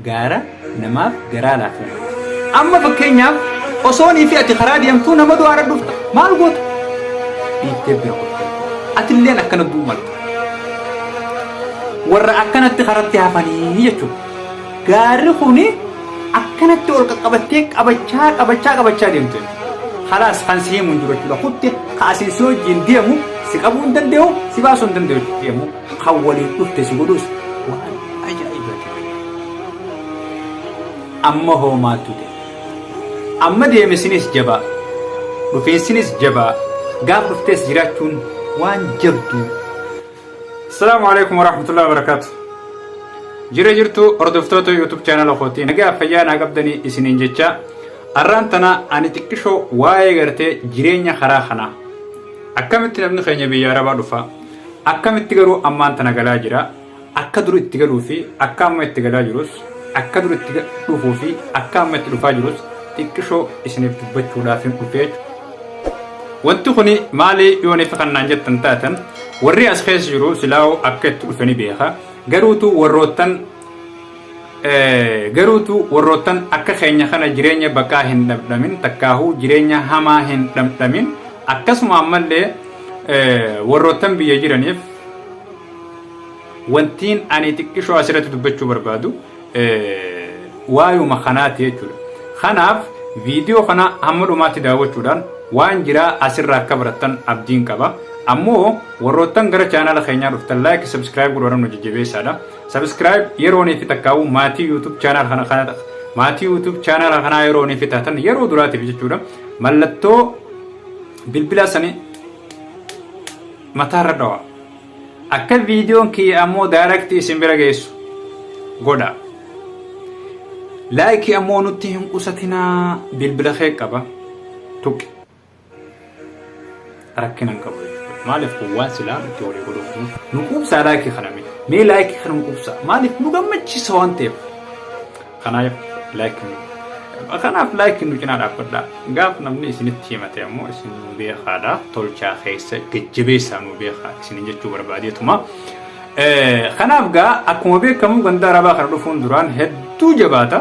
gaara namaaf garaa laafuu. Amma fakkeenyaaf osoonii fi ati karaa deemtuu nama du'aa irra dhufta maal goota? Dhiittee bira goota. Atilleen akkana du'uu malta. Warra akkanatti karatti hafanii jechuudha. Gaarri kuni akkanatti ol qaqqabattee qabachaa qabachaa qabachaa deemte. Kalaas kan si himu hin jiru jechuudha. Kutte kaasiin si wajjin deemu si qabuu hin danda'u si baasuu hin danda'u deemu. Kan waliif dhufte si godhus waan ajaa'ibaati. Amma hoo maaltu ta'e? Amma deemesinis jabaa, dhufiinsinis jabaa, gaaf dhuftees jiraachuun waan jabduu. Assalaamu alaikum warahmatullahi wabarakatuh. Jira jirtu hordoftoota YouTube chaanala kootii nagaa fayyaa naa qabdanii isiniin jecha arraan tana ani xiqqishoo waa'ee gartee jireenya karaa kanaa akkamitti namni keenya biyya arabaa dhufa Akkamitti garuu ammaan tana galaa jira, akka dur itti galuu fi akka amma itti galaa jirus, akka dur itti dhufuu fi akka amma itti dhufaa jirus xiqqishoo isiniif dubbachuudhaafin dhufe jechuudha. Wanti kuni maali yooniif kan naan jettan taatan warri as keessa jiru silaa'uu akka itti dhufe ni beeka. Garuutu warroottan Garuutu warroottan akka keenya kana jireenya baqaa hin dhamdhamin takkaahuu jireenya hamaa hin dhamdhamin akkasuma ammallee warroottan biyya jiraniif wantiin ani xiqqishoo asirratti dubbachuu barbaadu waayuma kanaati jechuudha. Kanaaf viidiyoo kana hamma dhumaatti daawwachuudhaan waan jiraa asirraa akka barattan abdiin qaba. Ammoo warroottan gara chaanaala keenyaa dhuftan laayik sabskiraayib godhuudhaan nu jajjabeessaadha. Subscribe yeroo ni fi takkaa'u maatii YouTube channel kana kana ta'a. Maatii YouTube channel kanaa yeroo ni fi taatan yeroo duraatiif jechuudha. Mallattoo bilbilaa sanii mataarra dhawa. Akka viidiyoon kiyya ammoo direct isin bira geessu godha. Laayikii ammoo nutti hin qusatinaa bilbila kee qaba tuqi. rakkina hin qabu jechuudha. Maaliif kun waan silaa itti walii godhuuf nu nu quubsaa laayikii kana mee mee laayikii kana nu quubsaa maaliif nu gammachiisa waan ta'eef kanaaf laayikii nu kanaaf laayikii nu cinaa dhaabbadhaa gaaf namni isinitti himate ammoo isin nu beekaadha tolchaa keessa jajjabeessaa nu beekaa isin jechuu barbaadeetuma. Kanaaf gaa akkuma beekamu ganda arabaa kana dhufuun duraan hedduu jabaata.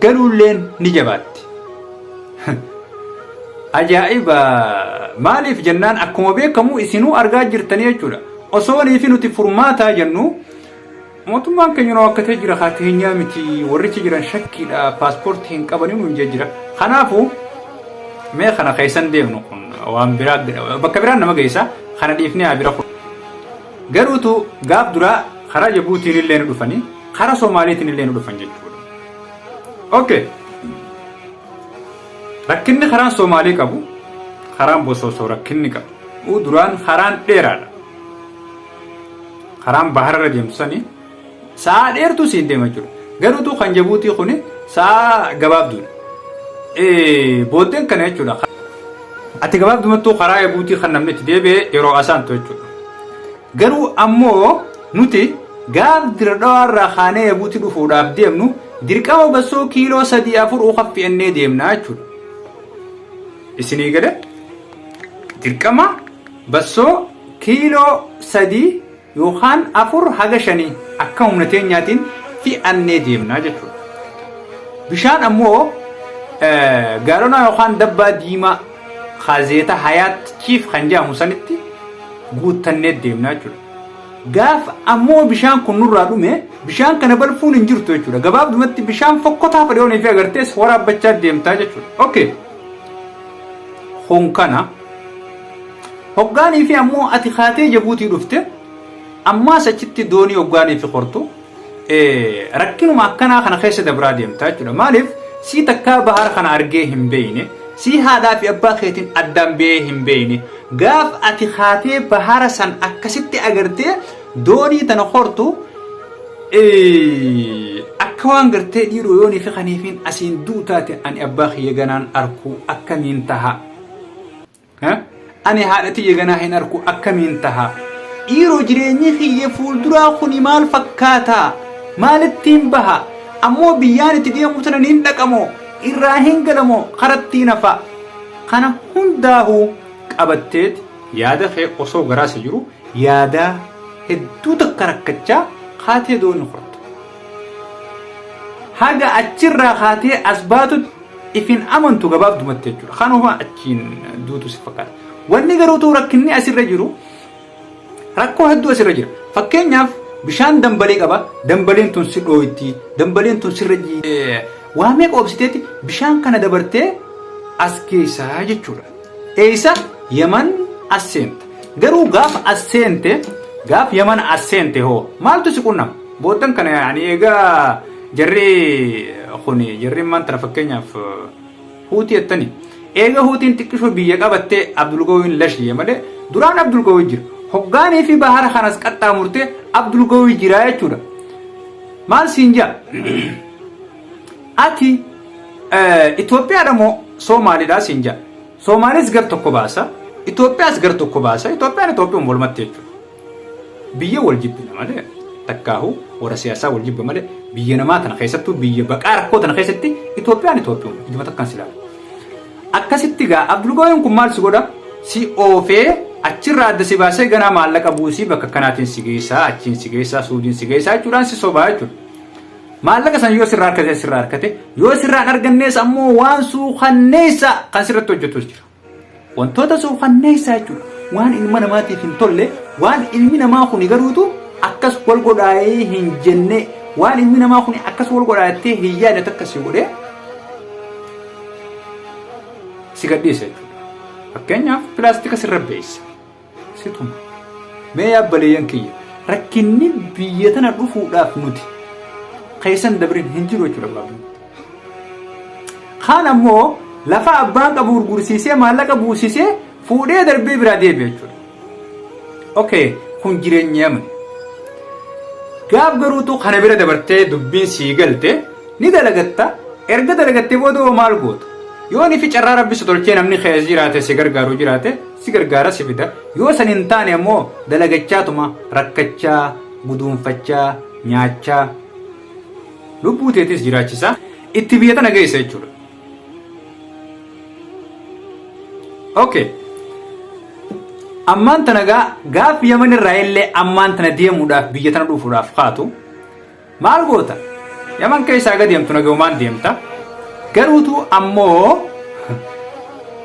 galuulleen ni jabaatti. Ajaa'iba! Maaliif jennaan akkuma beekamu isinuu argaa jirtanii jechuudha. Osoo niifi nuti furmaataa jennu mootummaan keenya nu akka ta'e jira haa teenyaa miti warrichi jiran shakkiidha paaspoortii hin qabanii nuun jee jira. Kanaafuu mee kana keessan deemnu kun waan biraa bakka biraan nama geessa kana dhiifnee haa bira kun. Garuutu gaaf duraa karaa Jabuutiin illee ni dhufanii Kara Somaaleetiin illee nu dhufan jechuudha. Okay. Rakkinni karaan Somaalee qabu karaan Bosoosoo rakkinni qabu. Uu duraan karaan dheeraadha. Karaan bahararra deemtu sanii sa'a dheertuu siin deema jechuudha. Garuutu kan Jabuutii kun sa'a gabaabduudha. Eh, Booddeen kana jechuudha. Ati gabaabdumattuu karaa Jabuutii kan namni itti deebi'e yeroo asaantu jechuudha. Garuu ammoo nuti gaaf Dire Dhawaa irraa kaanee Yabuuti dhufuudhaaf deemnu dirqama bassoo kiiloo sadii afur uka fe'annee deemna jechuudha. Isinii galee dirqama bassoo kiiloo sadii yookaan afur haga shanii akka humna teenyaatiin fe'annee deemna jechuudha. Bishaan ammoo eh, gaalonaa yookaan dabbaa diimaa Kaazeeta Hayaat Chiif kan jedhamu sanitti guuttannee deemna jechuudha. Gaaf ammoo bishaan kun nurraa dhume bishaan kana balfuun hin jirtu jechuudha. Gabaabdumatti bishaan fokkotaa fadhiyoonii fi agartees waraabbachaa deemtaa jechuudha. Okay. Kun kana. Hoggaanii fi ammoo ati kaatee jabuutii dhufte ammaas achitti doonii hoggaanii fi hortu rakkinuma akkanaa kana keessa dabraa deemtaa jechuudha. Maaliif sii takkaa bahar kana argee hin beeyne sii haadhaa fi abbaa keetiin addaan ba'ee hin beeyne gaaf ati kaatee bahara san akkasitti agartee doonii tana hortu akka waan gartee dhiiroo yoonii fi kaniifiin asiin duu taate ani abbaa kiyya ganaan arkuu akkamiin taha Ani haadha tiyya ganaa hin arku akkamiin taha? Dhiiroo jireenyi kiyya fuulduraa kuni maal fakkaata? Maalittiin baha? Ammoo biyyaan itti deemuu tana niin dhaqamoo? Irraa hin galamoo? Karattiin hafa? Kana hundaahu qabatteeti yaada kee osoo garaasa jiru yaadaa hedduu takka rakkachaa kaatee doonii korta. haga achirraa kaatee as baatutti ifin amantu gabaabdumatti jechuudha. Kanuma achiin duutu si fakkaata. Wanni garuu ta'u rakkinni asirra jiru rakkoo hedduu asirra jira. Fakkeenyaaf bishaan dambalee qaba. Dambaleen tun si dhooytti. Dambaleen tun sirra jiidhe. Waa meeqa obsiteeti bishaan kana dabartee as geessaa jechuudha. Eeysa yaman as seenta. Garuu gaafa as seente gaaf yaman as seente hoo maaltu si qunnama? Booddan kana yaa'anii eegaa jarri kun jarri maan tana fakkeenyaaf huutii jettani. Eega huutiin xiqqishoo biyya qabattee Abdulgawiin lash jee malee duraan Abdulgawii jira. Hoggaanii fi bahara kanas qaxxaamurtee Abdulgawii jira jechuudha. Maal siin jaa? Ati Itoophiyaadha moo Soomaalidha siin jedha. Soomaalees gar tokko baasa, Itoophiyaas gar tokko baasa, Itoophiyaan Itoophiyuma walumatti jechuudha. Biyya wal jibbina malee takkaahu warra siyaasaa wal jibba malee biyya namaa tana keessattuu biyya baqaa rakkoo tana keessatti Itoophiyaan Itoophiyuma ijuma takkaan silaa. Akkasitti gaa Abdulgooyeen kun maal si godha? Si oofee achirraa adda si baasee ganaa maallaqa buusii bakka kanaatiin si geessaa achiin si geessaa suudiin si geessaa jechuudhaan si sobaa jechuudha. Maallaqa san yoo sirraa argate sirraa argate yoo sirraa hin argannees ammoo waan suukanneessaa kan sirratti hojjetus jira. Wantoota suukanneessaa jechuun waan ilma namaatiif hin tolle waan ilmi namaa kuni garuutu akkas wal godhaayee hin jenne waan ilmi namaa kuni akkas wal godhaattee hin yaadne takka si godhee si gadhiisa jechuudha. Fakkeenyaaf pilaastika sirra beessa. Situma. Mee yaa baleeyyan kiyya rakkinni biyya tana dhufuudhaaf nuti keessan dabrin hin jiru jechuudha gabaabni. Kaan ammoo lafa abbaan qabu gurgursiisee maallaqa buusisee fuudhee darbee biraa deebi'a jechuudha. Okay, kun jireenya yamani. Gaaf garuutu kana bira dabartee dubbiin sii galte ni dalagatta erga dalagattee booda hoo maal goota? Yoo nifi carraa rabbi si tolchee namni keessa jiraate si gargaaru jiraate si gargaara si fida yoo san hin taane ammoo dalagachaatuma rakkachaa guduunfachaa nyaachaa lubbuu teetis jiraachisaa itti biyya tana geessa jechuudha. Okay. Ammaan tana gaa gaaf yaman irraa illee ammaan tana deemuudhaaf biyya tana dhufuudhaaf kaatu Maal goota? Yaman keessaa gadi deemtu nagayumaan deemta. Garuutu ammoo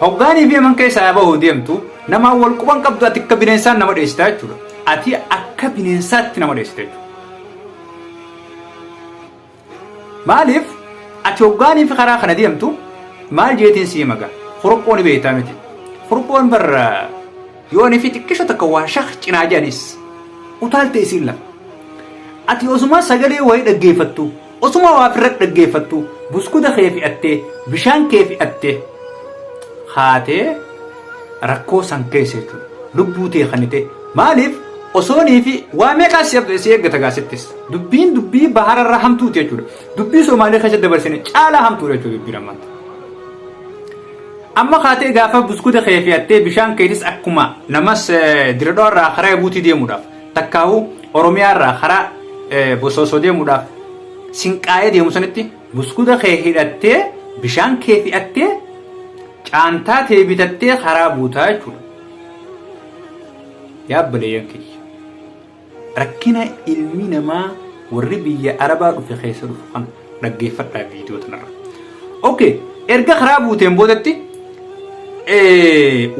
hoggaanii fi yaman keessaa bahu deemtu namaan wal quban qabdu ati akka bineensaan nama dheessita jechuudha. Ati akka bineensaatti nama dheessita jechuudha. Maaliif ati hoggaanii fi karaa kana deemtu maal jeetiin sii maga? Kuruphoon beektaa miti. Kuruphoon barra Yoo ani fi xiqqisho takka waa shak cinaa jedhanis utaalte isiin lama. Ati osumaa sagalee wayii dhaggeeffattu, osumaa waa firra dhaggeeffattu buskuta kee fi'attee, bishaan kee fi'attee kaatee rakkoo san keessa jechuudha. Lubbuu tee kanite maaliif osoonii fi waa meeqaa si abda- si eeggata gaasittis. Dubbiin dubbii bahara irraa hamtuuti jechuudha. Dubbii Somaalee keessa dabarsine caalaa hamtuudha jechuudha dubbiin ammaatti. Amma kaatee gaafa buskuta kee fe'attee bishaan keetis akkuma namas diradoo irraa karaa ebuutii deemuudhaaf takkaahu oromiyaa irraa karaa bosoosoo deemuudhaaf sinqaa'ee deemu sanitti buskuta kee hidhattee bishaan kee fe'attee caantaa tee bitattee karaa buutaa jechuudha. Yaabbalee yankiyya. Rakkina ilmi namaa warri biyya arabaa dhufe keessa dhufu kana dhaggeeffadhaa viidiyoo tanarra. Ok erga karaa buuteen boodatti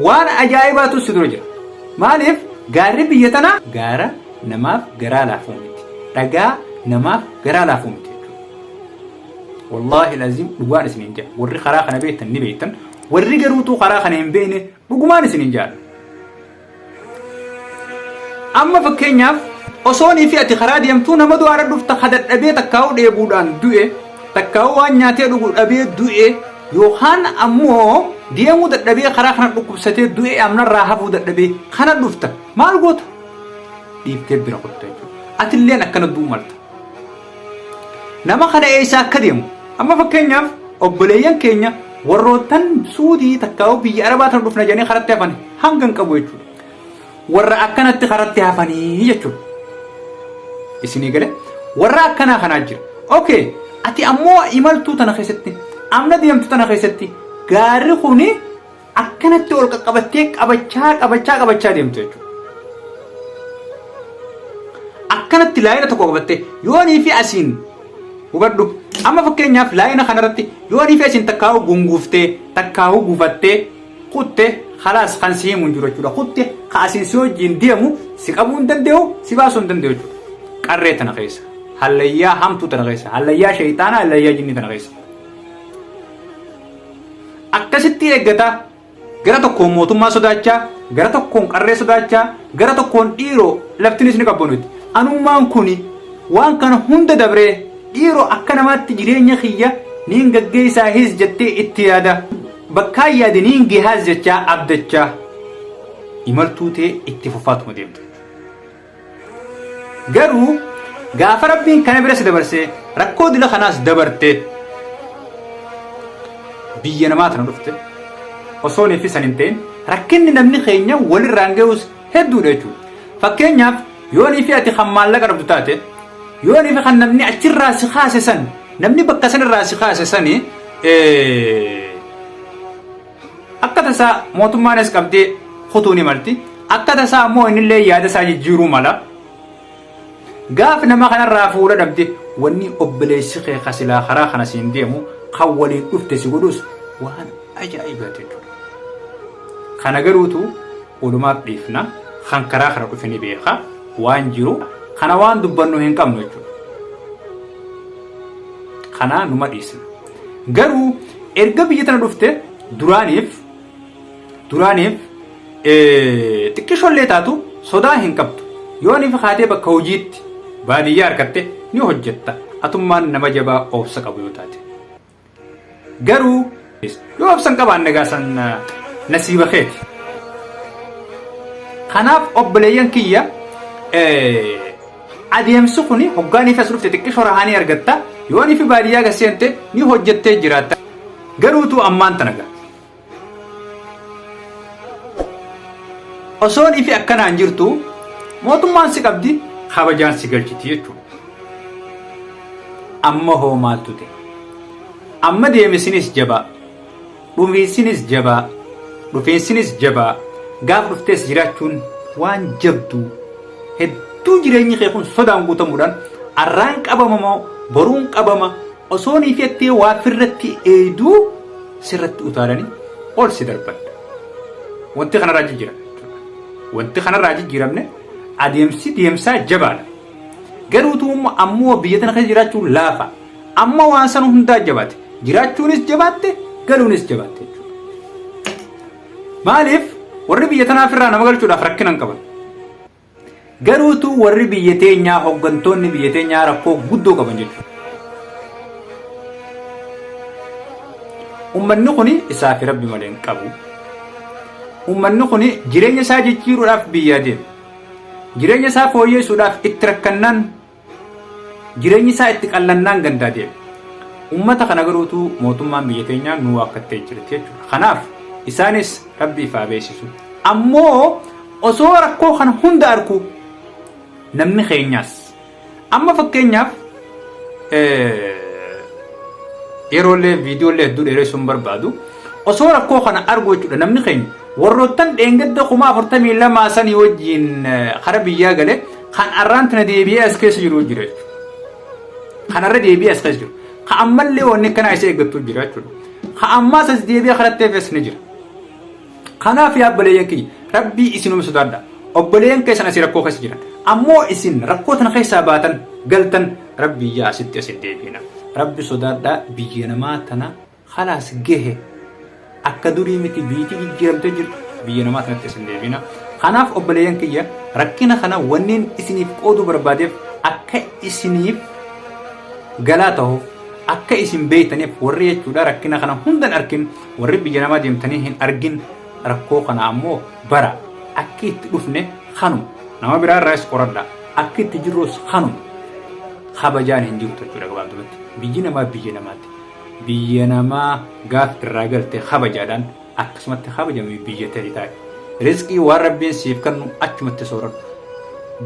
waan ajaa'ibaatu si dura jira. Maaliif gaarri biyya tanaa gaara namaaf garaa laafuu miti. Dhagaa namaaf garaa laafuu miti jechuudha. Wallaahi laziim dhugaan isin hin jedha. Warri karaa kana beektan ni beektan. Warri garuutuu karaa kana hin beekne dhugumaan isin hin jedha. Amma fakkeenyaaf osoonii fi ati karaa deemtuu nama du'aara dhufta ka dadhabee takkaa'uu dheebuudhaan du'e takkaa'uu waan nyaatee dhugu dhabee du'e yookaan ammoo deemuu dadhabee karaa kana dhukkubsatee du'e amnarraa hafuu dadhabee kana dhufta maal goota dhiiftee bira kutta jechuudha atilleen akkana du'uu malta Nama kana eessa akka deemu. Amma fakkeenyaaf obboleeyyan keenya warroottan suudii takkaa'uu biyya arabaa tan dhufna jedhanii karatti hafan hanga hin qabu jechuudha. Warra akkanatti karatti hafanii jechuudha. Isinii galee warra akkanaa kanaa jira. Okay ati ammoo imaltuu tana keessatti amna deemtu tana keessatti gaarri kuni Akkanatti ol qaqqabattee qabachaa qabachaa qabachaa deemtu jechuudha. Akkanatti laayina tokko qabattee yoonii fi asiin hubadhu. Amma fakkeenyaaf laayina kanarratti yoonii fi asiin takkaa'uu gunguuftee takkaa'uu guufattee kutte kalaas kan si himu hin jiru jechuudha. Kutte ka asiin si wajjin deemu si qabuu hin danda'u si baasuu hin danda'u jechuudha. Qarree tana keessa. Hallayyaa hamtuu tana keessa. Hallayyaa sheeyxaanaa hallayyaa jinnii tana keessa. akkasitti eeggataa gara tokkoon mootummaa sodaachaa gara tokkoon qarree sodaachaa gara tokkoon dhiiroo laftinis ni qabbanutti anummaan kun waan kana hunda dabree dhiiroo akka namaatti jireenya kiyya niin gaggeessaa his jettee itti yaada bakkaa yaade niin gehaas jechaa abdachaa imaltuu tee itti fufaatuma deemte. Garuu gaafa rabbiin kana bira si dabarsee rakkoo dila kanaas dabartee biyya namaa tana dhufte osoo neeffi san hin ta'in rakkinni namni keenya walirraan ga'us hedduudha jechuudha. Fakkeenyaaf yoo niifi ati kan maallaqa dhabdu taate yoo niifi kan namni achirraa si kaase san namni bakka sanirraa si kaase sani Akka tasaa mootummaanis qabdee kutuu ni malti. Akka tasaa immoo innillee yaada isaa jijjiiruu mala. Gaaf nama kanarraa fuula dhabde wanni obboleessi kee ka silaa karaa kana siin deemu kan waliin dhufte si godhus waan ajaa'ibaati jechuudha. Kana garuutu walumaaf dhiifna kan karaa kana dhufe ni beeka waan jiru kana waan dubbannu hin qabnu jechuudha. Kanaa numa dhiisna. Garuu erga biyya tana dhufte duraaniif duraaniif xiqqishoollee taatu sodaa hin qabdu. Yoo ni fakkaatee bakka hojiitti baadiyyaa harkatte ni hojjetta. Atummaan nama jabaa obsa qabu yoo taate. Garuu yoo obsa hin qabaanne gaasan nasiiba keeti. Kanaaf obboleeyyan kiyya Adeemsi kun hoggaa niiti as dhufte xiqqisho rahaa ni argatta, yoo nifi baadiyyaa gad seente ni hojjettee jiraatta. Garuu utuu ammaan tana ga. Osoo nifi akkanaan jirtu mootummaan si qabdi kabajaan si galchiti jechuudha. Amma hoo maaltu ta'e? Amma deemisinis jabaa. Dhumiisinis jabaa, dhufiinsinis jabaa, gaafa dhuftees jiraachuun waan jabduu. Hedduu jireenyi kee kun sodaan guutamuudhaan arraan qabama moo boruun qabama osoo ni fettee waa firratti eeyduu sirratti utaalanii ol si darbadha. Wanti kanarraa jijjiirame jechuudha. Wanti kanarraa jijjiiramne adeemsi deemsaa jabaadha. Garuu tuumma ammoo biyya tana keessa jiraachuun laafa. Amma waan san hundaa jabaate. Jiraachuunis jabaatte, galuunis jabaatte jechuudha. Maaliif warri biyya tanaa ofirraa nama galchuudhaaf rakkina hin qaban. Garuutu warri biyya teenyaa hooggantoonni biyya teenyaa rakkoo guddoo qaban jechuudha. Uummanni kun isaa fi rabbi malee hin qabu. Uummanni kun jireenya isaa jijjiiruudhaaf biyyaa deema. Jireenya isaa fooyyeessuudhaaf itti rakkannaan Jireenyi isaa itti qallannaan gandaa deeme. Ummata kana garuu utuu mootummaan biyya teenyaa nu waakkattee jirti jechuudha. Kanaaf isaanis rabbiif haa beeksisu. Ammoo osoo rakkoo kana hunda arku namni keenyaas amma fakkeenyaaf yeroolee viidiyoolee hedduu dheeressuun barbaadu osoo rakkoo kana argu jechuudha namni keenya warroottan dheengadda kuma afurtamii lamaa sanii wajjiin kara biyyaa gale Kan arraan tana deebi'ee as keessa jiru jira jechuudha. Kan arra deebi'ee as keessa jiru. Ka ammallee wanni akkanaa isa eeggattu jira jechuudha. Ka ammaas as deebi'ee karatti hafes ni jira. Kanaaf yaa obboleeyyan kiyya rabbii isinuma sodaadha. Obboleeyyan keessan asii rakkoo keessa jiran. Ammoo isin rakkoo tana keessaa baatan galtan rabbii yaa asitti asin deebiina. Rabbi sodaadha biyya namaa tana Khalaas gehe akka durii miti biitii jijjiiramtee jirti biyya namaa sanatti isin deebina kanaaf obboleeyyan kiyya rakkina kana wanneen isiniif qooduu barbaadeef akka isiniif galaa ta'uuf akka isin beeytaniif warri jechuudha rakkina kana hundan arkin warri biyya namaa deemtanii hin argin rakkoo kana ammoo bara akka itti dhufne kanu nama biraa irraas qoradha akka itti jirrus kanu kabajaan hin jirtu jechuudha gabaabdumatti biyyi namaa biyya namaatti Biyya namaa gaaf irraa galte kabajaadhaan akkasumatti kabajami biyya ta'e taa'e. Rizqii waan Rabbiin siif kannu achumatti sooradhu.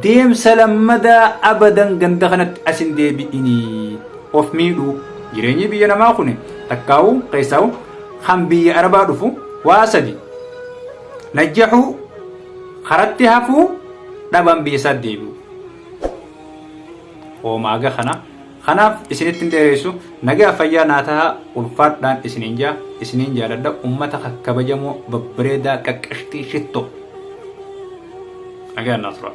Deemsa lammadaa abadan ganda kanatti as hin deebi'inii. Of miidhuu. Jireenyi biyya namaa kun takkaa'u keessaa'u kan biyya arabaa dhufu waa sadi. Najjaxuu, karatti hafuu, dhabaan biyya isaatti deebi'u. Hoomaaga kana Kanaaf isinitti hin dheereessu nagaaf fayyaa naa tahaa ulfaadhaan isiniin jaa isiniin jaaladha ummata kakkabajamoo babbareedaa qaqqashxii shittoo. Nagaan naa turaa.